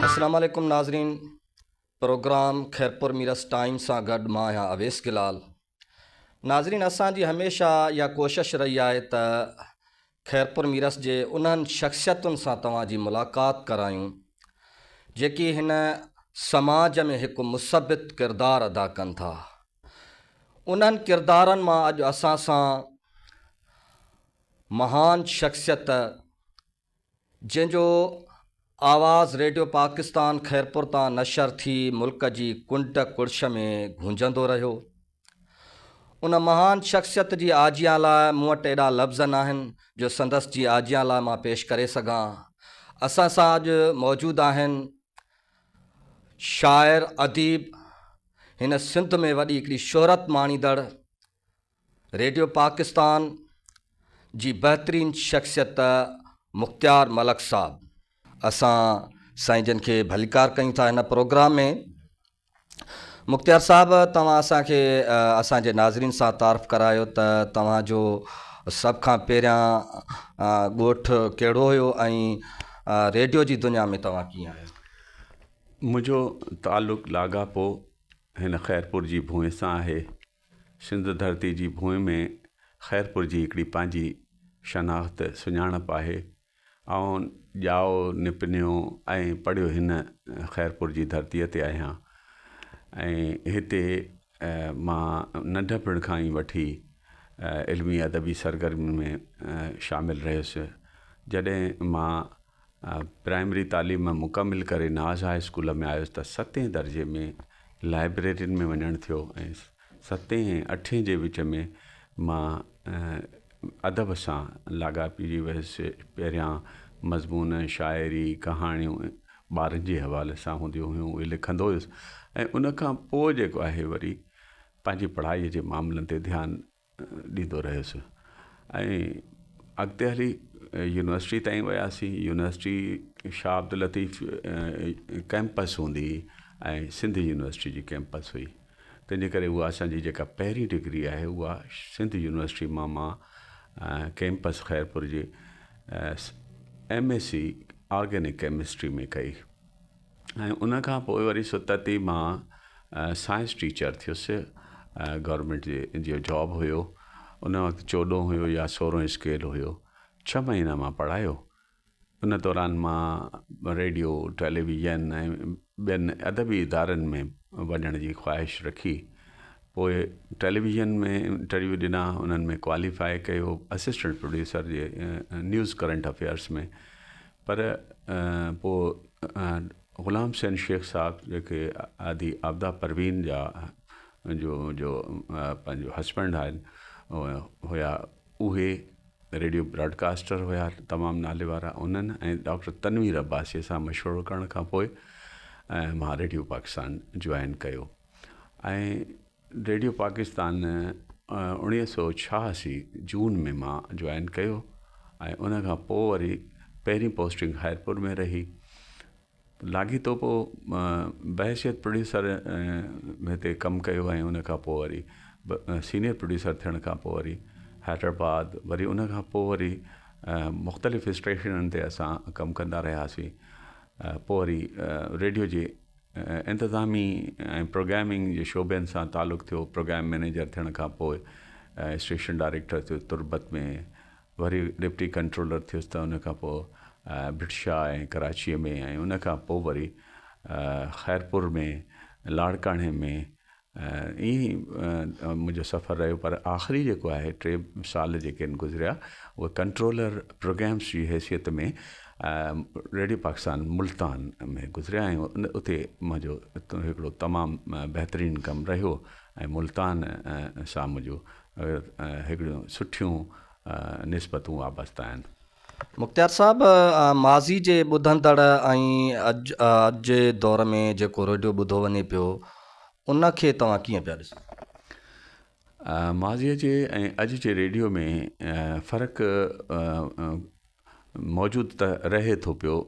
السلام عليڪم ناظرين پروگرام خيرپور ميرس ٽائيم سان گڏ مان آهيان اويس گلال ناظرين اسان جي هميشه اها ڪوشش رهي آهي ته خيرپور ميرس جي انهن شخصيتن سان توهان جي ملاقات ڪرايون جيڪي هن سماج ۾ هڪ مثبت ڪردار ادا ڪن ٿا انهن ڪردارن مان اڄ اسان سان مهان شخصيت جنهن جو آواز ريڊيو پاڪستان خيرپور تان نشر ٿي ملڪ جي ڪنڊ ڪڙڇ ۾ گونجندو رهيو ان مهان شخصيت جي آجيان لاء مون وٽ ايڏا لفظ ناهن جو سندس جي آجيان لاء مان پيش ڪري سگهان اسان سان اڄ موجود آهن شاعر اديب هن سنڌ ۾ وڏي هڪڙي شهرت ماڻيندڙ ريڊيو پاڪستان جي بهترين شخصيت مختيار ملڪ صاحب. اسان سائين جن کي ڀليڪار ڪيون ٿا هن پروگرام ۾ مختيار صاحب توهان اسان کي اسان جي ناظرين سان تعارف ڪرايو ته توهان جو سڀ کان پهريان ڳوٺ ڪهڙو هيو ۽ ريڊيو جي دنيا ۾ توهان ڪيئن آيو. منهنجو تعلق لاڳاپو هن خيرپور جي ڀونء سان آهي. سنڌ ڌرتي جي ڀونء ۾ خيرپور جي هڪڙي پنهنجي شناخت سڃاڻپ آهي. آئون ڄائو نپنيو ۽ پڙهيو هن خيرپور جي ڌرتيء تي آهيان ۽ هتي مان ننڍپڻ کان ئي وٺي علمي ادبي سرگرمين ۾ شامل رهيس. جڏهن مان پرائمري تعليم مڪمل ڪري ناز هاء اسڪول ۾ آيس ته ستين درجي ۾ لائبريرين ۾ وڃڻ ٿيو ۽ ستين ۽ اٺين جي وچ ۾ مان ادب سان لاڳاپيجي ويس پهريان مضمون شاعري ڪهاڻيون ٻارن جي حوالي سان هونديون هيون اهي لکندو هيس ۽ ان کان پوء جيڪو آهي وري پنهنجي پڙهائي جي معاملن تي ڌيان ڏيندو رهيس ۽ اڳتي هلي يونيورسٽي تائين وياسين يونيورسٽي شاهه عبداللطيف ڪيمپس هوندي هئي ۽ سنڌ يونيورسٽي جي ڪيمپس هئي تنهنجي ڪري هو اسانجي جيڪا پهرين ڊگري آهي اها سنڌ يونيورسٽي مان مان ڪيمپس خيرپور جي M S C organic chemistry ۾ ڪئي ۽ ان کان پوء وري ستت ئي مان سائنس ٽيچر ٿيس گورمينٽ جي جي جاب هيو ان وقت چوڏهون هيو يا سورهون اسڪيل هيو ڇهه مهينا مان پڙهايو ان دوران مان ريڊيو ٽيليويزن ۽ ٻين ادبي ادارن ۾ وڃڻ جي خواهش رکي پوء ٽيليويزن ۾ انٽرويو ڏنا انهن ۾ ڪواليفاء ڪيو اسسٽنٽ پروڊيوسر جي نيوز ڪرنٽ افيئرس ۾ پر پوء غلام حسين شيخ صاحب جيڪي آدي آبدا پروين جا جو جو پنهنجو هسبنڊ آهن هيا اهي ريڊيو براڊڪاسٽر هيا تمام نالي وارا انهن ۽ ڊاڪٽر تنوير عباسي سان مشورو ڪرڻ کان پوء مان ريڊيو پاڪستان جوائن ڪيو ۽ ريڊيو پاڪستان اوڻيهه سؤ ڇهاسي جون ۾ مان جوائن ڪيو ۽ ان کان پوء وري پهرين پوسٽنگ خيرپور ۾ رهي لاڳيتو پوء بحيثيت پروڊيوسر هتي ڪم ڪيو ۽ ان کان پوء وري سينيئر پروڊيوسر ٿيڻ کان پوء وري حيدرآباد وري ان کان پوء وري مختلف اسٽيشنن تي اسان ڪم ڪندا رهياسين پوء وري ريڊيو جي انتظامي ۽ پروگرامنگ جي شعبن سان تعلق ٿيو، پروگرام مئنيجر ٿيڻ کان پوء اسٽيشن ڊائريڪٽر ٿيس تربت ۾ وري ڊپٽي ڪنٽرولر ٿيس ته ان کان پوء ڀٽ شاهه ۽ ڪراچيء ۾ ۽ ان کان پوء وري خيرپور ۾ لاڙڪاڻي ۾ ائين ئي منهنجو سفر رهيو پر آخري جيڪو آهي ٽي سال جيڪي آهن گذريا اهي ڪنٽرولر پروگرامس جي حيثيت ۾ ريڊيو پاڪستان ملتان ۾ گذريا ۽ اتي منهنجو هڪڙو تمام بهترين ڪم رهيو ۽ ملتان سان منهنجو هڪڙيون سٺيون نسبتون وابسته آهن مختيار صاحب ماضي جي ٻڌندڙ ۽ اڄ جي دور ۾ جيڪو ريڊيو ٻڌو وڃي پيو ان کي توهان ڪيئن پيا ڏسو؟ ماضي جي ۽ اڄ جي ريڊيو ۾ فرق موجود ته رهي ٿو پيو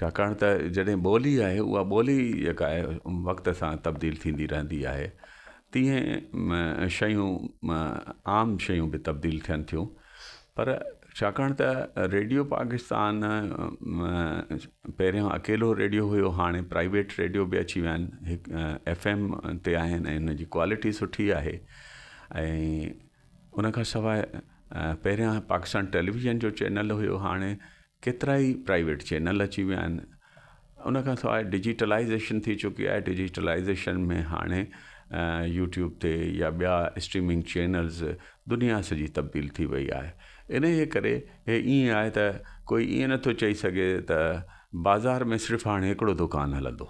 ڇاڪاڻ ته جڏهن ٻولي آهي اها ٻولي جيڪا آهي وقت سان تبديل ٿيندي رهندي آهي تيئن شيون عام شيون به تبديل ٿين ٿيون پر ڇاڪاڻ ته ريڊيو پاڪستان پهريان اڪيلو ريڊيو هيو هاڻي پرائيويٽ ريڊيو به اچي ويا آهن هڪ ايف ايم تي آهن ۽ ان جي ڪوالٽي سٺي آهي ۽ ان کان سواء پهريان پاڪستان ٽيليويزن جو چينل هيو هاڻي ڪيترائي پرائيويٽ چينل اچي ويا آهن ان کان سواء ڊجيٽلائيزيشن ٿي چڪي آهي ڊجيٽلائيزيشن ۾ هاڻي يوٽيوب تي يا ٻيا اسٽريمنگ چينلز دنيا سڄي تبديل ٿي وئي آهي انهيء ڪري هي ائين آهي ته ڪوئي ائين نٿو چئي سگهي ته بازار ۾ صرف هاڻي هڪڙو دڪان هلندو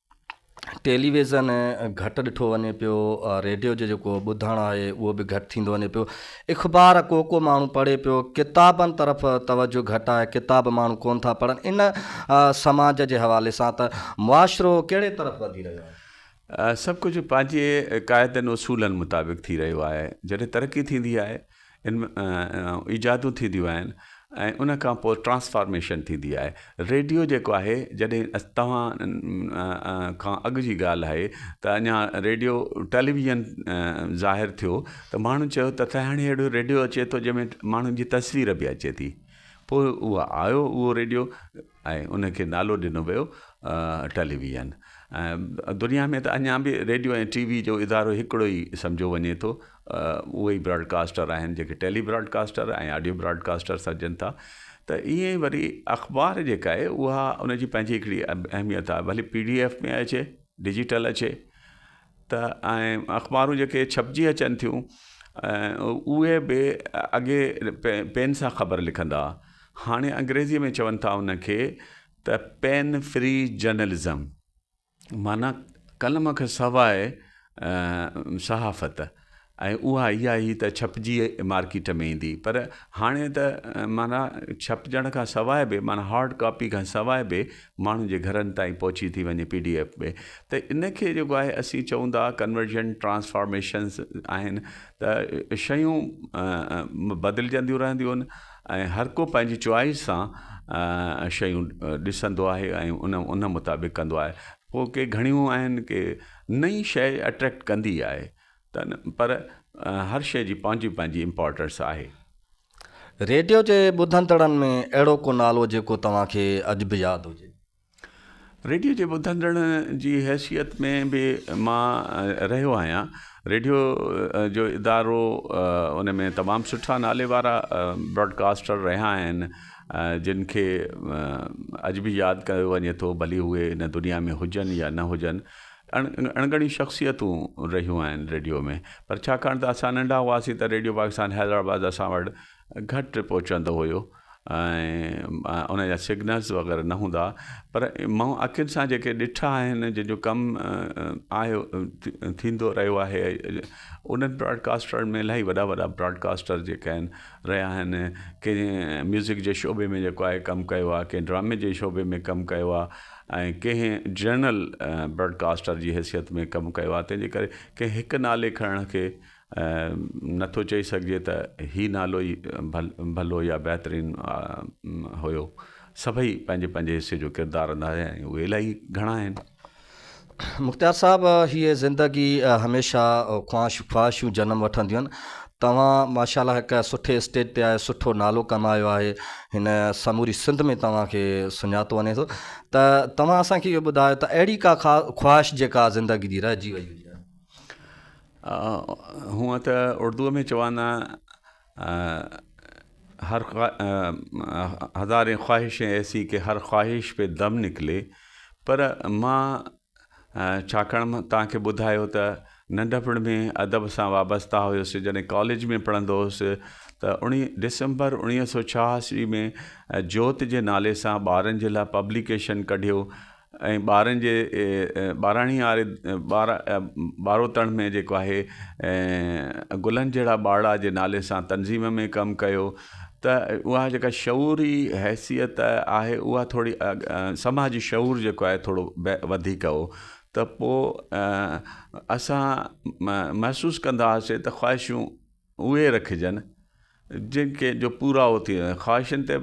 ٽيلي ويزن گهٽ ڏٺو وڃي پيو، ريڊيو جو جيڪو ٻڌڻ آهي اهو به گهٽ ٿيندو وڃي پيو، اخبار ڪو ڪو ماڻهو پڙهي پيو، ڪتابن طرف توجه گهٽ آهي، ڪتاب ماڻهو ڪونه ٿا پڙهن، ان سماج جي حوالي سان ته معاشرو ڪهڙي طرف وڌي رهيو آهي؟ سڀ ڪجهه پنهنجي قاعدن اصولن مطابق ٿي رهيو آهي، جڏهن ترقي ٿيندي آهي ان ۾ ايجادون ٿينديون آهن ۽ ان کان پوء ٽرانسفارميشن ٿيندي آهي ريڊيو جيڪو آهي جڏهن توهان کان اڳ جي ڳالهه آهي ته اڃا ريڊيو ٽيليويزن ظاهر ٿيو ته ماڻهن چيو ته سائين هاڻي اهڙو ريڊيو اچي ٿو جنهن ۾ ماڻهن جي تصوير به اچي ٿي پوء اهو آيو اهو ريڊيو ۽ ان کي نالو ڏنو ويو ٽيلي ويزن. دنيا ۾ ته اڃا به ريڊيو ۽ ٽي وي جو ادارو هڪڙو ئي سمجهيو وڃي ٿو. اهي ئي براڊ ڪاسٽر آهن جيڪي tele broadcaster ۽ audio broadcaster سڏجن ٿا. ته ائين ئي وري اخبار جيڪا آهي اها ان جي پنهنجي هڪڙي اهميت آهي ڀلي پي ڊي ايف ۾ اچي ڊجيٽل اچي. ته ۽ اخبارون جيڪي ڇپجي اچن ٿيون اهي به اڳي پين سان خبر لکندا ها هاڻي انگريزي ۾ چون ٿا ان کي ته پين فري جرنلزم معنيٰ قلم کان سواء صحافت ۽ اها اها ئي ته ڇپجي مارڪيٽ ۾ ايندي. پر هاڻي ته معنيٰ ڇپجڻ کان سواء به معنيٰ هارڊ ڪاپي کان سواء به ماڻهن جي گهرن تائين پهچي ٿي وڃي پي ڊي ايف ۾ ته ان کي جيڪو آهي اسين چئون ٿا ڪنورجن ٽرانسفارميشنز آهن ته شيون بدلجنديون رهنديون آهن ۽ هر ڪو پنهنجي چوائس سان شيون ڏسندو آهي ۽ ان مطابق ڪندو آهي پوء ڪي گهڻيون آهن ڪي نئين شيء اٽريڪٽ ڪندي آهي تن پر هر شئي جي پنهنجي پنهنجي امپارٽنس آهي. ريڊيو جي ٻڌندڙن ۾ اهڙو ڪو نالو جيڪو توهان کي اڄ به ياد هجي؟ ريڊيو جي ٻڌندڙ جي حيثيت ۾ به مان رهيو آهيان. ريڊيو جو ادارو ان ۾ تمام سٺا نالي وارا براڊڪاسٽر رهيا آهن جن کي اڄ به ياد ڪيو وڃي ٿو ڀلي اهي هن دنيا ۾ هجن يا نه هجن. اڻڳڻيون شخصيتون رهيون آهن ريڊيو ۾ پر ڇاڪاڻ ته اسان ننڍا هئاسين ته ريڊيو پاڪستان حيدرآباد اسان وٽ گهٽ پهچندو هيو ۽ ان جا سگنلز وغيره نه هوندا هئا پر مون اکين سان جيڪي ڏٺا آهن جن جو ڪم آهيو ٿيندو رهيو آهي انهن براڊڪاسٽرن ۾ الاهي وڏا وڏا براڊڪاسٽر جيڪي آهن رهيا آهن ڪي ميوزڪ جي شعبي ۾ جيڪو آهي ڪم ڪيو آهي ڪي ڊرامي جي شعبي ۾ ڪم ڪيو آهي ۽ ڪنهن جرنل براڊڪاسٽر جي حيثيت ۾ ڪم ڪيو آهي تنهن جي ڪري ڪنهن هڪ نالي کڻڻ کي نه ٿو چئي سگهجي ته هي نالو ئي ڀلو يا بهترين هيو سڀئي پنهنجي پنهنجي حصي جو ڪردار ادا ڪيا آهن اهي الاهي گهڻا آهن مختيار صاحب هي زندگي هميشه خواهش خواهشون جنم وٺنديون آهن توهان ماشاء الله هڪ سٺي اسٽيج تي آهي سٺو نالو ڪمايو آهي هن سموري سنڌ ۾ توهان کي سڃاتو وڃي ٿو ته توهان اسان کي اهو ٻڌايو ته اهڙي ڪا خواهش جيڪا زندگي جي رهجي وئي هجي هونء ته اردوء ۾ چوندا هر هزارين خواهشين ايسي ڪي هر خواهش پي دم نڪلي پر مان ڇاڪاڻ مان توهان کي ٻڌايو ته ننڍپڻ ۾ ادب سان وابسته هيس جڏهن ڪاليج ۾ پڙهندو هيس ته اڻي ڊسمبر اڻيهه سو ڇهاسي ۾ جوت جي نالي سان ٻارن جي لاء پبليڪيشن ڪڍيو ۽ ٻارن جي ٻاراڻي واري ٻاروتڻ ۾ جيڪو آهي گلن جهڙا ٻارڙا جي نالي سان تنظيم ۾ ڪم ڪيو ته اها جيڪا شعوري حيثيت آهي اها ٿوري سماجي شعور جيڪو آهي ٿورو وڌيڪ هو ته پوء اسان محسوس ڪندا هئاسي ته خواهشون اهي رکجن جن کي جو پورائو ٿي وڃي خواهشن تي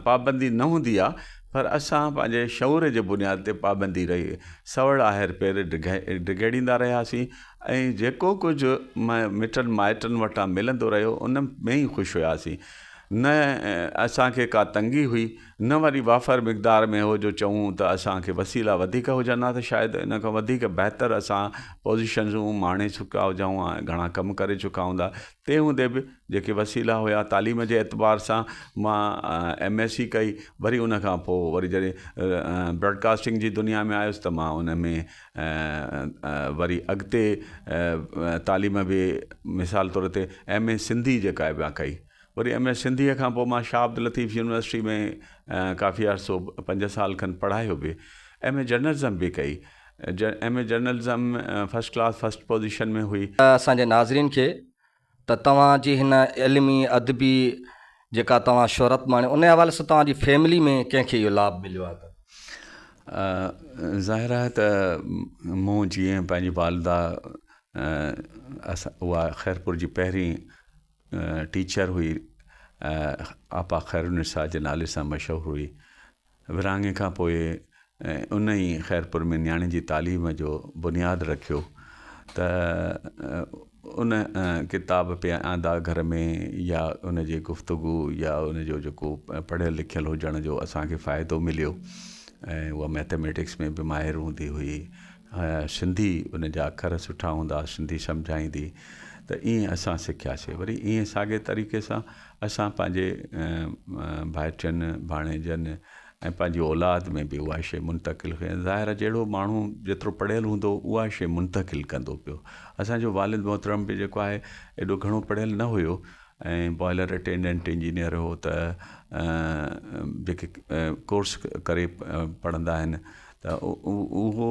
پابندي نه هوندي آهي پر اسان پنهنجي شعور جي بنياد تي پابندي رهي سوڙ آهر پير ڊگهيڙيندا رهياسين ۽ جيڪو ڪجهه مٽن مائٽن وٽان ملندو رهيو ان ۾ ئي خوش هياسين نه اسان کي ڪا تنگي هئي نه وري وافر مقدار ۾ هو جو چئون ته اسان کي وسيلا وڌيڪ هجن ها ته شايد ان کان وڌيڪ بهتر اسان پوزيشنون ماڻي چڪا هجون ها ۽ گهڻا ڪم ڪري چڪا هوندا تنهن هوندي به جيڪي وسيلا هيا تعليم جي اعتبار سان مان ايم ايس سي ڪئي وري ان کان پوء وري جڏهن براڊڪاسٽنگ جي دنيا ۾ آيس ته مان ان ۾ وري اڳتي تعليم به مثال طور تي ايم اي سنڌي جيڪا مان ڪئي وري ايم اي سنڌي کان پوء مان شاهه عبداللطيف يونيورسٽي ۾ ڪافي عرصو پنج سال کن پڙهايو به ايم اي جرنلزم به ڪئي M A journalism ۾ first class first position ۾ هئي. اسان جي ناظرين کي ته توهان جي هن علمي ادبي جيڪا توهان شهرت ماڻي ان حوالي سان توهان جي فيملي ۾ ڪنهن کي اهو لاڀ مليو آهي ته. ظاهر آهي ته مون جيئن پنهنجي والده اها خيرپور جي پهرين ٽيچر هئي آپا خيرالنساء جي نالي سان مشهور هئي ورهاڱي کان پوء ان ئي خيرپور ۾ نياڻي جي تعليم جو بنياد رکيو ته ان ڪتاب پي آندا گهر ۾ يا ان جي گفتگو يا ان جو جيڪو پڙهيل لکيل هجڻ جو اسان کي فائدو مليو ۽ هو مئٿميٽڪس ۾ به ماهر هوندي هئي سنڌي ان جا اکر سٺا هوندا سنڌي سمجهائيندي ته ايئن اسان سکياسي وري ايئن ساڳي طريقي سان اسان پنهنجي ڀائٽين، ڀاڻيجن ۽ پنهنجي اولاد ۾ به اها شيء منتقل ڪئي. ظاهر آهي جهڙو ماڻهو جيترو پڙهيل هوندو اها شيء منتقل ڪندو پيو. اسان جو والد محترم به جيڪو آهي ايڏو گهڻو پڙهيل نه هيو ۽ بوائلر اٽينڊنٽ انجنيئر هو ته جيڪي ڪورس ڪري پڙهندا آهن ته اهو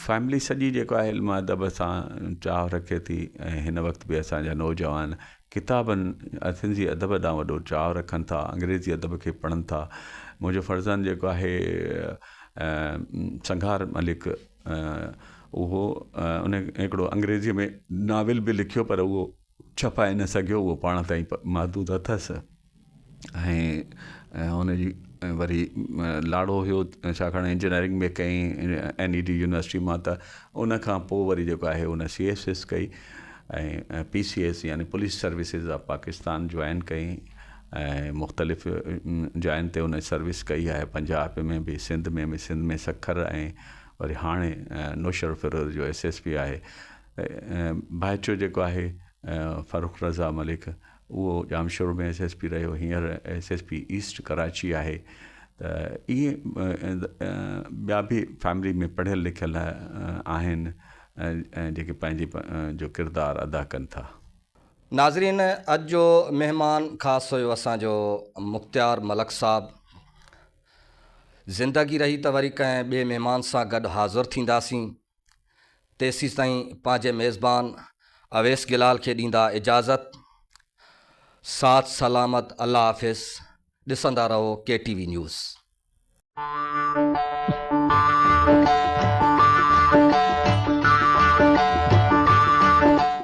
فيملي سڄي جيڪو آهي علم ادب سان چاهه رکي ٿي ۽ هن وقت به اسان جا نوجوان ڪتابن سنڌي ادب ڏانهن وڏو چاهه رکن ٿا انگريزي ادب کي پڙهن ٿا منهنجو فرزند جيڪو آهي سنگهار ملڪ اهو ان هڪڙو انگريزي ۾ ناول به لکيو پر اهو ڇپائي نه سگهيو اهو پاڻ تائين محدود اٿس ۽ هن جي وري لاڙو هيو ڇاڪاڻ انجنيئرنگ به ڪئي اين اي ٽي يونيورسٽي مان ته ان کان پوء وري جيڪو آهي ان سي ايس ايس ڪئي ۽ پي سي ايس يعني police services of Pakistan join ڪئي ۽ مختلف جاين تي ان سروس ڪئي آهي پنجاب ۾ به سنڌ ۾ به سنڌ ۾ سکر ۽ وري هاڻي نوشهروفيروز جو ايس ايس پي آهي ڀائچو جيڪو آهي فرخ رضا ملڪ اهو ڄامشورو ۾ ايس ايس پي رهيو هينئر S S P east Karachi آهي ته ائين ٻيا به فيملي ۾ پڙهيل لکيل آهن جيڪي پنهنجي جو ڪردار ادا ڪن ٿا. ناظرين اڄ جو مهمان خاص هيو اسان جو مختيار ملڪ صاحب زندگي رهي ته وري ڪنهن ٻئي مهمان سان گڏ حاضر ٿينداسين. تيسين تائين پنهنجي ميزبان اويس جلال کي ڏيندا اجازت ساٿ سلامت الله حافظ ڏسندا رهو ڪي ٽي وي نيوز.